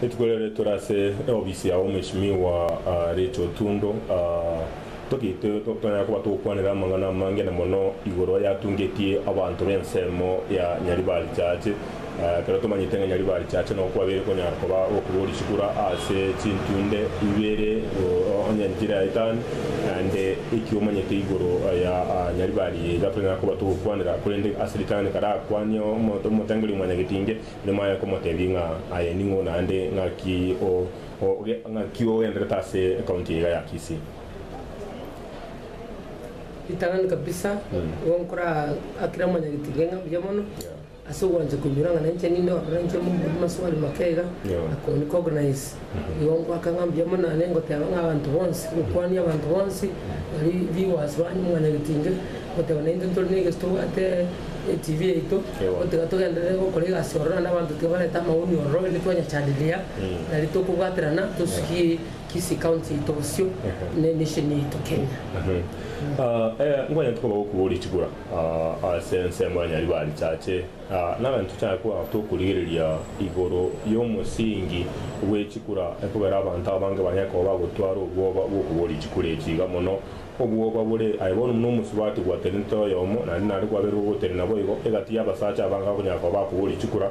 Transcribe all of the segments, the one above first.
Rituko riarire tore ase eofisi ya Omweshimiwa Rachel Otundo togete tonyare koba togokwanera amang'ana amange na mono igoro yatungetie abanto b'ensemo ya Nyaribari Church. Ekero tomanyete ng'a Nyaribari Church nabo kwabeire konyara koba gokigwa risiko ase chintunde ibere onye nchire ya Italy. Naende eki omanyete igoro ya Nyaribari iga tonyara koba togokwanera, korende ase ritang'ani karakwanie omonto omotengereria mwanyagetinge, ere maya komotebia ng'a aye ning'o naende ng'aki ng'aki ogenderete ase ekaunti eye iga ya Kisii. Ritang'ani kabisa, igo nkorakire mwanyagetinge ng'a mbuya mono. Ase ogwancha koinyora ng'a nainche ninde ororo inche momo buna Swali Makega, na Connie Cognize, igo ngoaka ng'a mbuya mono nane ngoteba ng'a abanto bonsi, gokwania abanto bonsi bari rigwasi banye omwana getinge, goteba naintwe ntore negesu tobwate eTV yaito, gotiga togenderere gokora egasi ororo naende abanto tiga barete amaoni ororo rende twanya chanderia nari tokobwaterana tosugie Kisii County yaito bosio, ne nation yaito Kenya. Ngwanyete koba gokubori chibura. Ase ensemo ya Nyaribarichache, nare ntochake kogaka tokorigereria igoro y'omosingi bw'echikura ekogera abanto abange banyare koba bagotwara obwoba bw'okoboria chikura echi iga mono. Obwoba bore aye bono buna omosubati gwatenenete oyomo, naende nare gwabeirwe gotenena boigo egati y'abasacha abange abakonyara koba bakoboria chikura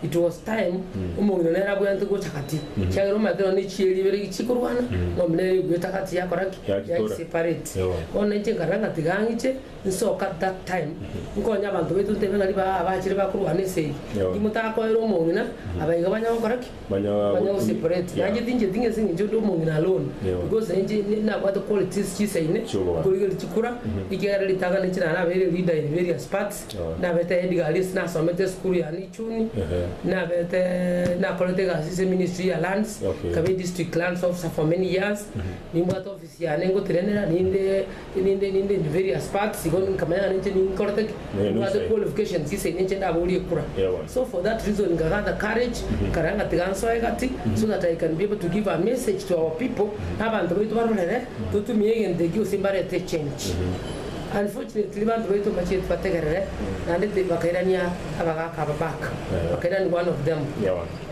It was time omong'ina nere abwenerete gocha gati, kiagera omaete nonya ne chieri ibere echi chikorwana, eng'ombe nere ebuete gati yakora ki? Yagikora. Yagiseparate. Ewa. Bono nainche nkarora ng'a tiga ng'iche nsoke at that time, nkonye abanto baito ntebe ng'a ribaga abachire bakorwana esegi, Ewa. inki motakoera omong'ina, aba iga banya gokora ki? Banya Banya gotumia. goseparate. Yeah. Nainche tincheti ng'a ase eng'encho ndi omong'ina alone, Ewa. because nainche ni- nabwate qualities chisaine, Chi'obogima. nkorigereria chikura, ekiagera ritang'ani nainche narabeire leader in various parts, Naberete Ed Galius nasomete esukuru ya Nichuni, naberete nakorete egasi ase eministry ya lands, nkaba edistrict lands officer for many years, nimbwate office yane ngotenenera ninde ninde ninde in various parts igo nkamanya ng'a ninche ninkorete ki? Nimbwate qualifications ase ene inche ndaboria ekura. So for that reason nka gather courage nkarora ng'a tiga nsoe gati so that I can be able to give a message to our people abanto baito barorere totumie egento ekio gose mbarete echange. Unfortunately banto baito mbachire tibategerere naende ti bakairania abagaka aba back bakairani one of them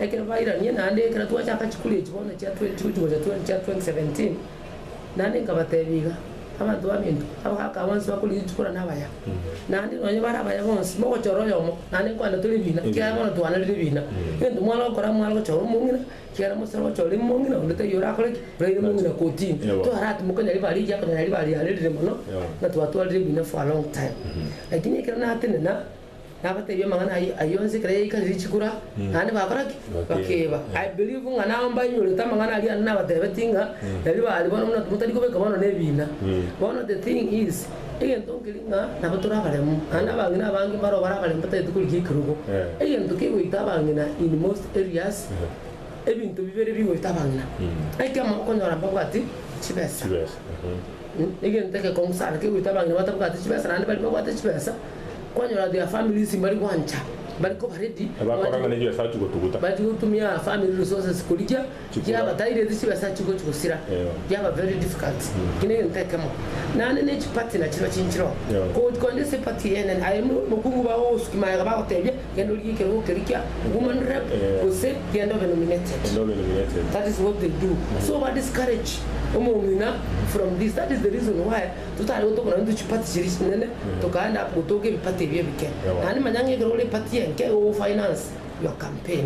ekero bairanie naende ekero twachaka chikuri echi bono chia 2020 gocha twen chia 2017 naende nkabatebi iga abanto ba minto abagaka aba bonsi bakori richikora na abaya naende nonye bare abaya bonsi mogochora oyomo naende nkwane tori bina ekiagera bono twanarire bina egento mware gokora mware gochora omong'ina Kiagera Musa nonya ore mong'ina, onde taiyo orakore ki? Oraire mong'ina kotini. Twaratimoka nyari bare iga, konya nyari bare yarerire mono, ng'a twatwarire ebina for a long time. Lakini ekero natenena, nabateebia amang'ana ayio, ayio onsi ekero yaikarire chikura, naende bakora ki? Bakeeba. I believe ng'a nao mbainyorete amang'ana aria nabateebetie ng'a, erio bare bono buna motari kobeka bono nebina. Bono the thing is. Egento nkeri ng'a nabo tore abaremu, naende abang'ina abange mbaro bare abaremu batagete korigia ekerogo. Egento kegoita abang'ina in most areas, ebinto bibere bigoita abang'ina. Ekiamo, okonyora mbabwati chibesa. Egento egekong'u sana kegoita abang'ina batabwati chibesa naende baria babwate chibesa, kwanyora their families mbari gwancha, bari koba ready, Bakora ng'a nebiasara chigotuguta. bachia gotumia family resources korigia. chikura. Chiaba tire echio chibesa chigwe chigosira chiaba very difficult eki negento ekemo naende ne chiparty nachiro chinchiro koti konde ase eparty eyene aye mokungu bagogosuki magega bagotebia genda orie ekerogo keria kia woman rep gose genda obe nominated that is what they do so ba discourage omong'ina from this that is the reason why totari gotoka nonye intwe chiparty chiria chinene tokaenda gotoka ebiparty ebio ebike naende manya ng'a ekero ore eparty enke igo ogo finance your campaign.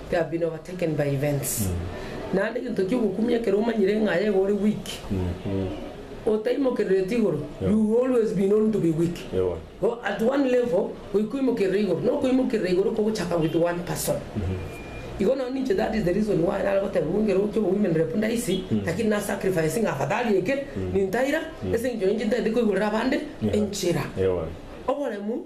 They have been overtaken by events naende egento kiogokumia ekero omanyire ng'a aye iga ore weak otaimokerereti igoro you will always be known to be weak go at one level goika oimokerere igoro na okoimokerera igoro kogochaka with one person igo nonye ninche that is the reason why nare goteba buna ekero kia women rep ndaisi lakini na sacrificing afadhali eke nintaira ase eng'encho ninche ntagete koigorera abande enchera oboremu.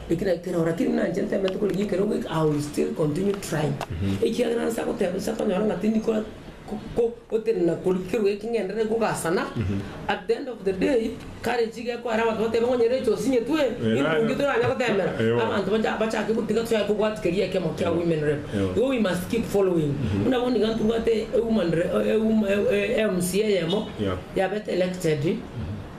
Ekero ekerora keria nanche ntemete korigia ekero goika, I will still continue trying. Ekiagera nase agoteba inse akonyora ng'a tindi ko ko gotenena koria kerwa eke ng'enderere kogasana, at the end of the day, courage iga ekoera abanto batebe ng'a onye rero echi osinyetwe, Eeh, nindi toranye goteemera. Eeh, oo. Abanto bacha bachake gotiga tochake kobwati keria ekemo kia women rep. Eeh. Igo we must keep following. Buna bono iga ntobwate e woman re e wom e e mca eyemo Yeah. yabete elected,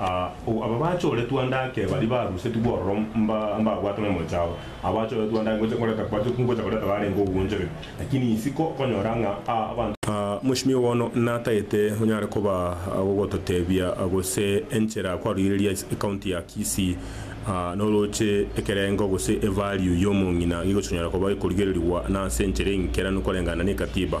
Aba bachoretwe ande ake baria barusetigwe ororo mbabwate nomochie ao, aba bachoretwe ande ake ngocha koreta kwachokire ngocha koreta barenge ogoonchoria, lakini isiko okonyora ng'a abanto. Mweshimiwa bono natagete onyare koba gogototebia gose enchera kwaroireria ecounty ya Kisii noroche ekerengo gose e value ya omong'ina gegochi konyara koba gekorigererigwa na ase enchera engikeranu koreng'ana ne ekatiba.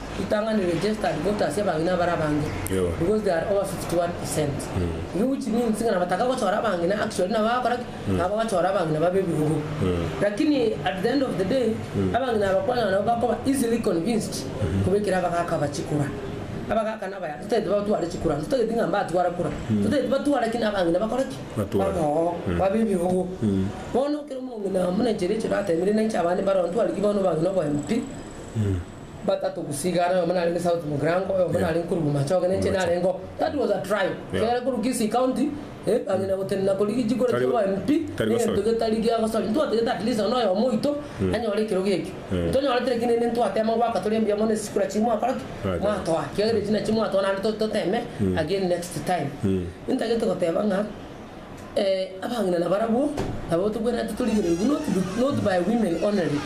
Ritang'ani registered voters y'abang'ina bare abange because they are over 51 percent iri which means ng'a nabataka gochora abang'ina actually nabo bagakora ki? Nabo bagachora abang'ina babe ebirubu lakini at the end of the day abang'ina aba kwanyora nabo bakoba easily convinced kobekera abagaka aba chikura abagaka nabaya totaeti batware chikura nabo totaeti ng'a mbatwara kura totaeti batware ki? Nabang'ina bakore ki? Baboo babe ebirubu bono ekero omong'ina buna enchera echi oratebirie nainche abande mbare oo ntware ki bono abang'ina obo MP? batato gusigara, oyomo narenge South Mugirango, oyomo Yeah. narenge korwa Bomachoge, nenche Bomachoge. narengo. That was a trial. Yeah. Egere korwa Kisii County, eh, bang'ina gotenena koria gechikoro Tari- chiabo MP, tari egento gosoria. getari giagosoria. Ntwatagete at least nonya oyomo oito, anyore ekerogo ekio. Mm. Tonyorete lakini rende ntwatema goaka tore mbuya mono esikura chiria mwakora ki? Mwatema. Mwatoa. Kiagera echi nachio mwatoa naende to- toteme again next time. Intagete goteba ng'a Abang'ina nabarabwo nabo togwenerete torigereretie, not not by women only,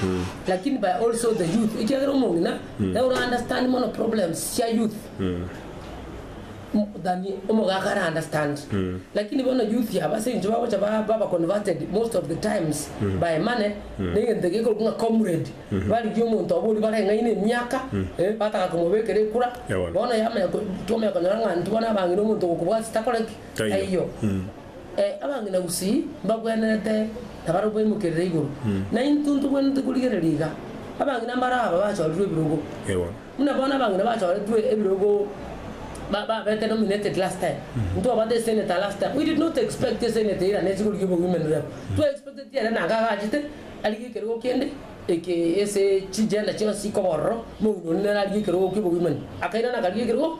lakini by also the youth, ekiagera omong'ina nere ora understand mono problems chia youth than omogaka ara understand. Lakini bono youth aba ase eng'encho bagocha ba baba converted most of the times by money, na egento eke gekorokwa ng'a comrade, barigia omonto obo oria bareng'aine emiaka, eh, bataka komobekera ekura, Ewana. bono yamanya ko twamanya konyora ng'a intwe bono abang'ina omonto ogokobwatete akore ki? taiyo. Ee, abang'ina gusii mbagwenerete na baria baimokerire igoro, na intwe ntogwenerete korigereria iga. Abang'ina mbare aba bachorirwe ebirogo. Ewa. Buna bono abang'ina bachoretwe ebirogo ba, babete nominated last time. Ntwabate esenator last time. We did not expect esenator eira nesi korigia obo-women rep. Twa expecteti ere naga agachete arigie ekerogo kende eke ase chigender chionsi ikoba ororo, moino onde nere arigie ekerogo kia obo-women. Akairana akarigia ekerogo.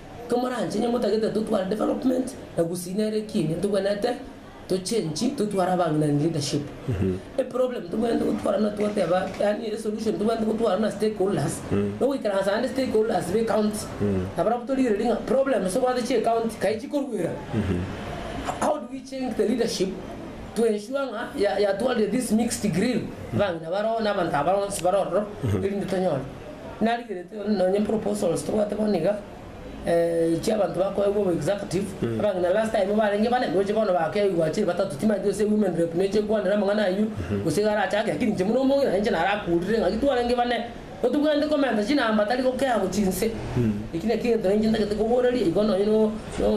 Komoranche inwe motagete totware development na gusii nere ekiini ntobwenerete to change totware abang'inani leadership. Eproblem ntobwenerete gotwara na twateba yaani esolution ntobwenerete gotwara na stakeholders nogoikaransa naende stakeholders be county nabarabwo torigereria ng'a problems obwate chie county kai chikorwera how do we change the leadership to ensure ng'a ya yatwarire this mixed grill abang'ina bare ororo na abanto abare onsi bare ororo erinde tonyore Narigeretie nonye proposals tobwate bono iga chiabanto bakoegwa obo executive abang'ina last time barenge bane gose bono bakeigwa chiri batato timaeti gose women rep neche ekwanera amang'ana ayio gose iga arachake lakini inche buna omong'ina ninche narakurire ng'aki twarenge bane totobwenereti komenta chinamba tari gokea gochia inse eki nakio egento ninche ntagete koboreria igo nonye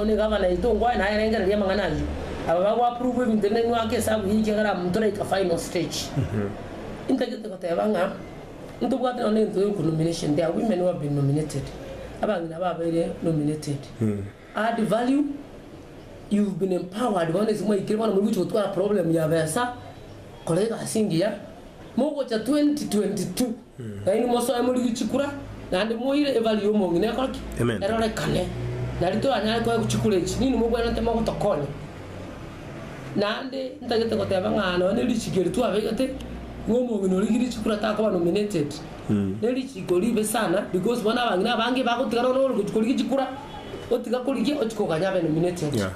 ne gavana yaito ngwaye naye erengereria amang'ana ayio aba bago approve ebinto ebi nainwe ake esabu yaito ekiagera toraika final stage intagete goteba ng'a Ntobwate nonya nento yoku nomination there are women who have been nominated abang'ina babaire nominated add value you've been empowered bono ase mwaikire bono muri gocha gotwara problem ya besa kora egasi engiya mogocha 2022 naende mosoe morigwe chikura naende moire evalue ya omong'ina ekore ki? Amen. erorekane nari toranyare koegwa chikura echi nini mobwenerete mogotokonya Naende ntagete goteba ng'a nonya ne richiko eri twabeegete, ng'a omong'ina oria Girichikura takoba nominated ne richiko ribe sana because bono abang'ina abange bagotiga nonya ore gochia korigia chikura, otiga korigia ochia koganya abe nominated. Yeah.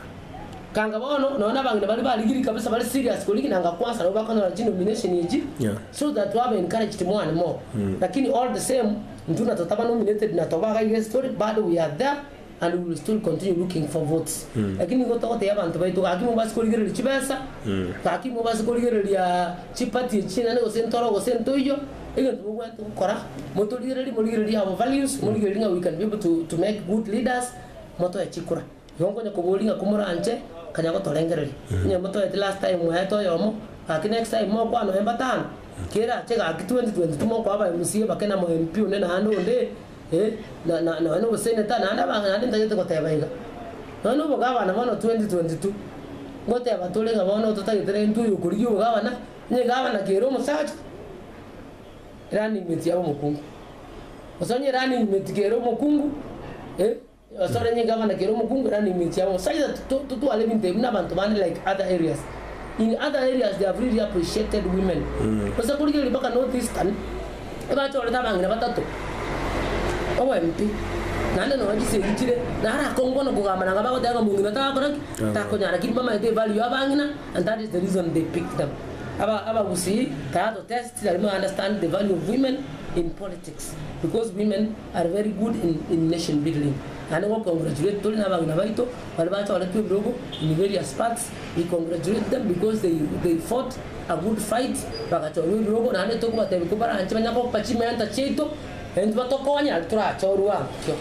Kanga bono nonya na abang'ina baria barigirie kabisa bare serious korigia nanga kwansa nabo bakonyora chinomination echi Yeah. so that babe encouraged more and more. Lakini all the same, intwe natotaba nominated na tobaga iga estory, bado we are there And we will still continue looking for votes lakini nigo togoteebia abanto baito gaki mobase korigereria chibesa, gaki mobase korigereria chiparty echi chinene gose ntoro gose ntoiyo, egento mobwate gokora motorigererie morigererie our values, morigererie ng'a we can be able to to make good leaders, motoe chikura. Nigo nkonya koboria ng'a komoranche nkanya gotorengereria, onye motoeti last time mwaete oyomo, gaki next time mokwana oye mbatano, kerache gaki 2022 mokoa aba mca bake na mo MP onde naende onde, Eh, na, na, nonya nogoseneta, naende abange naende ntagete goteba iga. Nonya nobogabana bono 2022, ngoteba tore ng'a bono totagete renti oyo okorigia obogabana, onye egabana kere omosacha, eranning mate yabe omokungu. Gose onye eranning mate kere omokungu, eh. Basoranie Gavana kera omokungu erande emechie yabo gose aidha totware ebinto ebi nabanto bande like other areas in other areas they have really appreciated women gose korigereria mpaka North Eastern ebachorete abang'ina batato obwempi naende nonya chisegi chire naro akongwa nokogamba nabo bagoteba ng'a mong'ina takora ki? Takonyara ki? Bamanyete evalue ya abang'ina and that is the reason they picked them aba abagusii tara to test tari ma understand the value of women in politics because women are very good in in nation building naende go congratulate tori na abagina baito baria bachoretwe ebirogo in various parts we congratulate them because they they fought a good fight bagachorwa ebirogo naende tokobatebia ko baranche banya gopa chimenta chiaito intwe batokonye naende torachorwe agokio.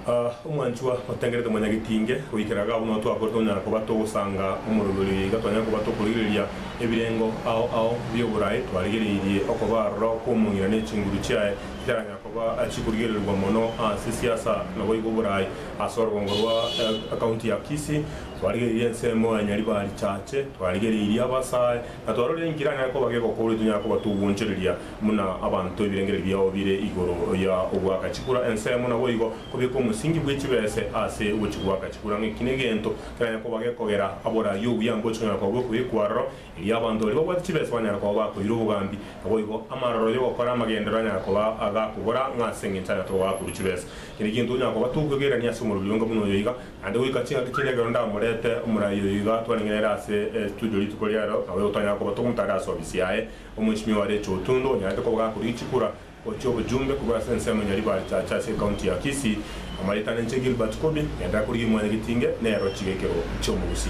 Ah, omwanchwa, otengerete mwanyagetinge, goikera iga abwo nao twakorete onyara koba togosanga omorori oria iga twanyare koba tokorigereria Ebirengo ao ao bi'oboraai twarigereirie okoba aroro kw'omong'ina ne chinguru chiaye ntaranya koba chikorigererigwa mono ase siasa naboigo oboraai. Ase orogongo rwa County ya Kisii twarigereirie ensemo ya Nyaribari Church, twarigereirie abasae na twarorire inki eranyare koba gegokorwa etonyare koba togwonchoreria buna abanto ebirengererio biabo bire igoro ya ogwaka chikura. Ensemo naboigo kobieka omosingi bwe chibese ase ogochigwaka chikura ng'eki negento. Kera gekoba gekogera aborarie obuya ngocha konyara koba bw'ekoigwa aroro, erio abanto baria babwate chibesa banyare koba bakoira obogambi. Naboigo, amaroro y'ogokora amagenderero anyara koba agakobora ng'a ase engencho aria toba bakoru chibesa. Kera egento onyara koba tokogerania ase omorweri onge buna oyo iga, naende goika ching'aki chinde ekero ndamorete omorai oyo iga twaneng'ene ere ase estudio rituko riarero, nabo igo twanyara koba togomotaara ase obisi yaye. Omwenchimi oyo arechire otondo, onyarete koba gakorigia chikura. Gochia obochumbe korwa ase ensemo ya Ribaritache ase ekaunti ya Kisii, amaretane inche Gilbert Kobi, ng'ende akorigia Imwanyagetinge nero chigekero chi'omogusi.